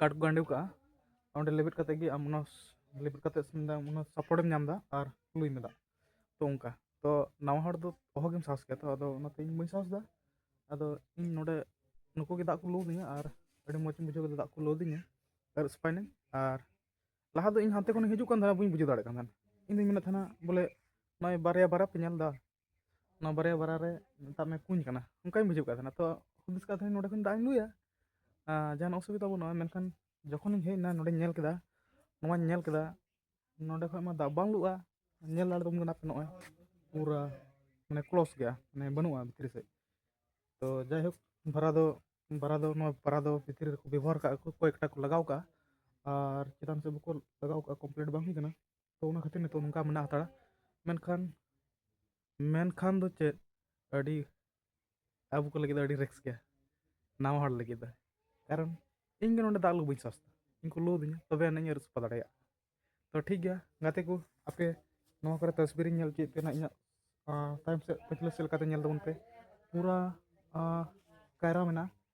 ᱠᱟᱴ ᱠᱚ ᱜᱟᱸᱰᱮ ᱠᱟᱜᱼᱟ ᱚᱸᱰᱮ ᱞᱮᱵᱮᱫ ᱠᱟᱛᱮ ᱜᱮ ᱟᱢ ᱚᱱᱟ ᱞᱮᱵᱮᱫ ᱠᱟᱛᱮ ᱚᱱᱟ ᱥᱟᱯᱳᱨᱴ ᱮᱢ ᱧᱟᱢ ᱮᱫᱟ ᱟᱨ ᱞᱩᱭ ᱢᱮ ᱫᱟᱜ ᱛᱚ ᱚᱱᱠᱟ ᱛᱚ ᱱᱟᱣᱟ ᱦᱚᱲ ᱫᱚ ᱚᱦᱚᱜᱮᱢ ᱥᱟᱦᱚᱥ ᱠᱮᱭᱟ ᱛᱚ ᱟᱫᱚ ᱚᱱᱟᱛᱮ ᱤᱧ ᱵᱟᱹᱧ ᱥᱟᱦᱚᱥ ᱮᱫᱟ ᱟᱫᱚ ᱤᱧ ᱱᱚᱰᱮ ᱱᱩᱠᱩ ᱜᱮ ᱫᱟᱜ ᱠᱚ ᱞᱩ ᱟᱹᱫᱤᱧᱟ ᱟᱨ ᱟᱹᱰᱤ ᱢᱚᱡᱽ ᱤᱧ ᱵᱩᱡᱷᱟᱹᱣ ᱠᱮᱫᱟ ᱫᱟᱜ ᱠᱚ ᱞᱩ ᱟᱹᱫᱤᱧᱟ ᱟᱨ ᱥᱯᱟᱭᱱᱤᱝ ᱟᱨ ᱞᱟᱦᱟ ᱫᱚ ᱤᱧ ᱦᱟᱱᱛᱮ ᱠᱷᱚᱱᱤᱧ ᱦᱤᱡᱩᱜ ᱠᱟᱱ ᱛᱟᱦᱮᱱᱟ ᱵᱟᱹᱧ ᱵᱩᱡᱷᱟᱹᱣ ᱫᱟᱲᱮᱭᱟᱜ ᱠᱟᱱ ᱛᱟᱦᱮᱱᱟ ᱤᱧ ᱫᱩᱧ ᱢᱮᱱᱮᱫ ᱛᱟᱦᱮᱱᱟ ᱵᱚᱞᱮ ᱱᱚᱜᱼᱚᱭ ᱵᱟᱨᱭᱟ ᱵᱟᱨᱭᱟ ᱯᱮ ᱧᱮᱞ ᱮᱫᱟ ᱚᱱᱟ ᱵᱟᱨᱭᱟ ᱵᱟᱨᱟ ᱨᱮ ᱢᱮᱛᱟᱜ ᱢᱮ ᱠᱩᱧ ᱠᱟᱱᱟ ᱚᱱᱠᱟᱧ ᱵᱩᱡᱷᱟᱹᱣ ᱠᱟᱜ ᱛᱟᱦᱮᱱᱟ ᱛᱚ ᱦᱩᱫᱤᱥ ᱠᱟᱜ ᱛᱟᱦᱮᱱᱤᱧ ᱱᱚᱰᱮ ᱠᱷᱚᱱ ᱫᱟᱜ ᱤᱧ ᱞᱩᱭᱟ ᱡᱟᱦᱟᱱ ᱚᱥᱩᱵᱤᱫᱟ ᱵᱟᱹᱱᱩᱜᱼᱟ ᱢᱮᱱᱠᱷᱟᱱ ᱡᱚᱠᱷᱚᱱᱤᱧ ᱦᱮᱡ ᱮᱱᱟ ᱱᱚᱰᱮᱧ ᱧᱮᱞ ᱠᱮᱫᱟ ᱱᱚᱣᱟᱧ ᱧᱮᱞ ᱠᱮᱫᱟ ᱱᱚᱰᱮ ᱠᱷᱚᱱ ᱢᱟ ᱫᱟᱜ ᱵᱟᱝ ᱞᱩᱜᱼᱟ ᱧᱮᱞ ᱫᱟᱲᱮ ᱛᱟᱵᱚᱱ ᱠᱟᱱᱟ ᱯᱮ ᱱᱚᱜᱼᱚᱭ ᱯᱩᱨᱟᱹ ᱢᱟᱱᱮ ᱠᱞᱚᱥ ᱜᱮᱭᱟ ᱢᱟᱱᱮ ᱵᱟᱹᱱᱩᱜᱼᱟ ᱵᱷᱤᱛᱨᱤ ᱥᱮᱫ ᱛᱚ ᱡᱟᱭᱦᱳᱠ ᱵᱷᱟᱨᱟ ᱫᱚ ᱵᱷᱟᱨᱟ ᱫᱚ ᱱᱚᱣᱟ ᱵᱷᱟᱨᱟ ᱫᱚ ᱵᱷᱤᱛᱨᱤ ᱨᱮᱠᱚ ᱵᱮᱵᱚᱦᱟᱨ ᱠᱟᱜᱼᱟ ᱠᱚ ᱠᱚᱭᱮᱠᱴᱟ ᱠᱚ ᱞᱟᱜᱟᱣ ᱠᱟᱜᱼᱟ ᱟᱨ ᱪᱮᱛᱟᱱ ᱥᱮᱫ ᱵᱟᱠᱚ ᱞᱟᱜᱟᱣ ᱠᱟᱜᱼᱟ ᱠᱚᱢᱯᱞᱤᱴ ᱵᱟᱝ ᱦᱩᱭ ᱠᱟᱱᱟ ᱛᱚ ᱚᱱᱟ ᱠᱷᱟᱹᱛᱤᱨ ᱱᱤᱛᱚᱜ ᱱᱚᱝᱠᱟ ᱢᱮᱱᱟᱜ ᱦᱟᱛᱟᱲᱟ ᱢᱮᱱᱠᱷᱟᱱ ᱢᱮᱱᱠᱷᱟᱱ ᱫᱚ ᱪᱮᱫ ᱟᱹᱰᱤ ᱟᱵᱚ ᱠᱚ ᱞᱟᱹᱜᱤᱫ ᱫᱚ ᱟᱹᱰᱤ ᱨᱤᱠᱥ ᱜᱮᱭᱟ ᱱᱟᱣᱟ ᱦᱚᱲ ᱞᱟᱹᱜᱤᱫ ᱫᱚ ᱠᱟᱨᱚᱱ ᱤᱧ ᱜᱮ ᱱᱚᱰᱮ ᱫᱟᱜ ᱞᱩ ᱵᱟᱹᱧ ᱥᱟᱦᱚᱥᱫᱟ ᱤᱧ ᱠᱚ ᱞᱩ ᱟᱹᱫᱤᱧᱟ ᱛᱚᱵᱮ ᱟᱹᱱᱤᱡ ᱤᱧ ᱟᱹᱨᱩ ᱥᱟᱯᱷᱟ ᱫᱟᱲᱮᱭᱟᱜᱼᱟ ᱛᱚ ᱴᱷᱤᱠ ᱜᱮᱭᱟ ᱜᱟᱛᱮ ᱠᱚ ᱟᱯᱮ ᱱᱚᱣᱟ ᱠᱚᱨᱮ ᱛᱚᱥᱵᱤᱨᱤᱧ ᱧᱮᱞ ᱪᱮᱫ ᱛᱮᱱᱟᱜ ᱤᱧᱟᱹᱜ ᱛᱟᱭᱚᱢ ᱥᱮᱫ ᱯᱟᱹᱪᱷᱞᱟᱹ ᱥᱮᱫ ᱞᱮᱠᱟᱛᱮ ᱧᱮᱞ ᱛᱟᱵᱚᱱ ᱯᱮ ᱯᱩᱨᱟ ᱠᱟᱭᱨᱟ ᱢᱮᱱᱟᱜᱼᱟ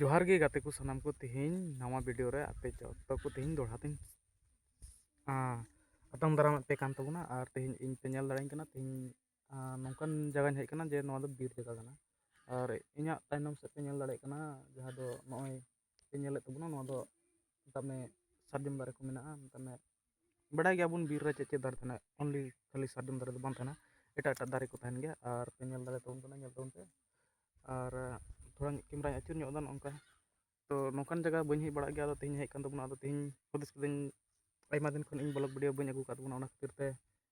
ᱡᱚᱦᱟᱨ ᱜᱮ ᱜᱟᱛᱮ ᱠᱚ ᱥᱟᱱᱟᱢ ᱠᱚ ᱛᱮᱦᱮᱧ ᱱᱟᱣᱟ ᱵᱷᱤᱰᱤᱭᱳ ᱨᱮ ᱟᱯᱮ ᱡᱚᱛᱚ ᱠᱚ ᱛᱮᱦᱮᱧ ᱫᱚᱲᱦᱟ ᱛᱮᱧ ᱟᱛᱟᱝ ᱫᱟᱨᱟᱢᱮᱫ ᱯᱮ ᱠᱟᱱ ᱛᱟᱵᱚᱱᱟ ᱟᱨ ᱛᱮᱦᱮᱧ ᱤᱧ ᱯᱮ ᱧᱮᱞ ᱫᱟᱲᱮᱭᱟᱹᱧ ᱠᱟᱱᱟ ᱛᱮᱦᱮᱧ ᱱᱚᱝᱠᱟᱱ ᱡᱟᱭᱜᱟᱧ ᱦᱮᱡ ᱠᱟᱱᱟ ᱡᱮ ᱱᱚᱣᱟ ᱫᱚ ᱵᱤᱨ ᱡᱟᱭᱜᱟ ᱠᱟᱱᱟ ᱟᱨ ᱤᱧᱟᱹᱜ ᱛᱟᱭᱱᱚᱢ ᱥᱮᱫ ᱯᱮ ᱧᱮᱞ ᱫᱟᱲᱮᱭᱟᱜ ᱠᱟᱱᱟ ᱡᱟᱦᱟᱸ ᱫᱚ ᱱᱚᱜᱼᱚᱭ ᱧᱮᱞᱮᱫ ᱛᱟᱵᱚᱱᱟ ᱱᱚᱣᱟ ᱫᱚ ᱢᱮᱛᱟᱜ ᱢᱮ ᱥᱟᱨᱡᱚᱢ ᱫᱟᱨᱮ ᱠᱚ ᱢᱮᱱᱟᱜᱼᱟ ᱢᱮᱛᱟᱜ ᱢᱮ ᱵᱟᱰᱟᱭ ᱜᱮᱭᱟᱵᱚᱱ ᱵᱤᱨ ᱨᱮ ᱪᱮᱫ ᱪᱮᱫ ᱫᱟᱨᱮ ᱛᱟᱦᱮᱱᱟ ᱚᱱᱞᱤ ᱠᱷᱟᱹᱞᱤ ᱥᱟᱨᱡᱚᱢ ᱫᱟᱨᱮ ᱫᱚ ᱵᱟᱝ ᱛᱟᱦᱮᱱᱟ ᱮᱴᱟᱜ ᱮᱴᱟᱜ ᱫᱟᱨᱮ ᱠᱚ ᱛᱟᱦᱮᱱ ᱜᱮᱭᱟ ᱟᱨ ᱯᱮ ᱧᱮᱞ ᱫᱟᱲᱮ ᱛᱟᱵᱚᱱ ᱠᱟᱱᱟ ᱧᱮᱞ ᱛᱟᱵᱚᱱ ᱯᱮ ᱟᱨ ᱛᱷᱚᱲᱟ ᱠᱮᱢᱨᱟᱧ ᱟᱹᱪᱩᱨ ᱧᱚᱜ ᱮᱫᱟ ᱱᱚᱝᱠᱟ ᱛᱚ ᱱᱚᱝᱠᱟᱱ ᱡᱟᱭᱜᱟ ᱵᱟᱹᱧ ᱦᱮᱡ ᱵᱟᱲᱟᱜ ᱜᱮᱭᱟ ᱟᱫᱚ ᱛᱮᱦᱮᱧ ᱦᱮᱡ ᱠᱟᱱ ᱛᱟᱵᱚᱱᱟ ᱟᱫᱚ ᱛᱮᱦᱮᱧ ᱦᱩᱫᱤᱥ ᱠᱤᱫᱟᱹᱧ ᱟᱭᱢᱟ ᱫᱤᱱ ᱠᱷᱚᱱ ᱤᱧ ᱵᱞᱚᱜᱽ ᱵᱷᱤᱰᱭᱳ ᱵᱟᱹᱧ ᱟᱹᱜᱩ ᱟᱠᱟᱫ ᱛᱟᱵᱚᱱᱟ ᱚᱱᱟ ᱠᱷᱟᱹᱛᱤᱨ ᱛᱮ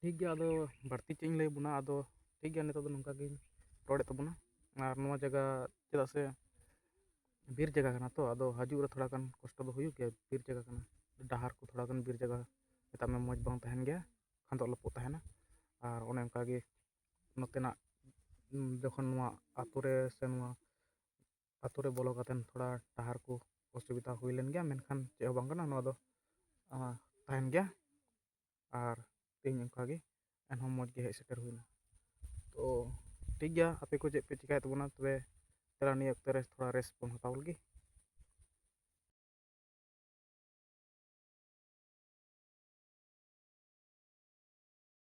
ᱴᱷᱤᱠ ᱜᱮᱭᱟ ᱟᱫᱚ ᱵᱟᱹᱲᱛᱤ ᱪᱮᱫ ᱤᱧ ᱞᱟᱹᱭ ᱟᱵᱚᱱᱟ ᱟᱫᱚ ᱴᱷᱤᱠ ᱜᱮᱭᱟ ᱱᱤᱛᱚᱜ ᱫᱚ ᱱᱚᱝᱠᱟ ᱜᱤᱧ ᱨᱚᱲᱮᱫ ᱛᱟᱵᱚᱱᱟ ᱟᱨ ᱱᱚᱣᱟ ᱡᱟᱭᱜᱟ ᱪᱮᱫᱟᱜ ᱥᱮ ᱵᱤᱨ ᱡᱟᱭᱜᱟ ᱠᱟᱱᱟ ᱛᱚ ᱟᱫᱚ ᱦᱤᱡᱩᱜ ᱨᱮ ᱛᱷᱚᱲᱟ ᱜᱟᱱ ᱠᱚᱥᱴᱚ ᱫᱚ ᱦᱩᱭᱩᱜ ᱜᱮᱭᱟ ᱵᱤᱨ ᱡᱟᱭᱜᱟ ᱠᱟᱱᱟ ᱰᱟᱦᱟᱨ ᱠᱚ ᱛᱷᱚᱲᱟ ᱜᱟᱱ ᱵᱤᱨ ᱡᱟᱭᱜᱟ ᱢᱮᱛᱟᱜ ᱢᱮ ᱢᱚᱡᱽ ᱵᱟᱝ ᱛᱟᱦᱮᱱ ᱜᱮᱭᱟ ᱠᱷᱟᱫᱚᱜ ᱞᱚᱯᱚᱜ ᱛᱟᱦᱮᱱᱟ ᱟᱨ ᱚᱱᱮ ᱚᱱᱠᱟ ᱜᱮ ᱱᱚᱛᱮᱱᱟᱜ ᱡᱚᱠᱷᱚᱱ ᱱᱚᱣᱟ ᱟᱹᱛᱩ ᱨᱮ ᱥᱮ ᱱᱚᱣᱟ ᱟᱛᱳ ᱨᱮ ᱵᱚᱞᱚ ᱠᱟᱛᱮ ᱛᱷᱚᱲᱟ ᱰᱟᱦᱟᱨ ᱠᱚ ᱚᱥᱩᱵᱤᱫᱟ ᱦᱩᱭ ᱞᱮᱱ ᱜᱮᱭᱟ ᱢᱮᱱᱠᱷᱟᱱ ᱪᱮᱫ ᱦᱚᱸ ᱵᱟᱝ ᱠᱟᱱᱟ ᱱᱚᱣᱟ ᱫᱚ ᱛᱟᱦᱮᱱ ᱜᱮᱭᱟ ᱟᱨ ᱛᱮᱦᱮᱧ ᱚᱱᱠᱟ ᱜᱮ ᱮᱱᱦᱚᱸ ᱢᱚᱡᱽ ᱜᱮ ᱦᱮᱡ ᱥᱮᱴᱮᱨ ᱦᱩᱭᱱᱟ ᱛᱚ ᱴᱷᱤᱠ ᱜᱮᱭᱟ ᱟᱯᱮ ᱠᱚ ᱪᱮᱫ ᱯᱮ ᱪᱤᱠᱟᱹᱭᱮᱫ ᱛᱟᱵᱚᱱᱟ ᱛᱚᱵᱮ ᱛᱷᱚᱲᱟ ᱱᱤᱭᱟᱹ ᱚᱠᱛᱚ ᱨᱮ ᱛᱷᱚᱲᱟ ᱨᱮᱥᱴ ᱵᱚᱱ ᱦᱟᱛᱟᱣ ᱞᱮᱜᱮ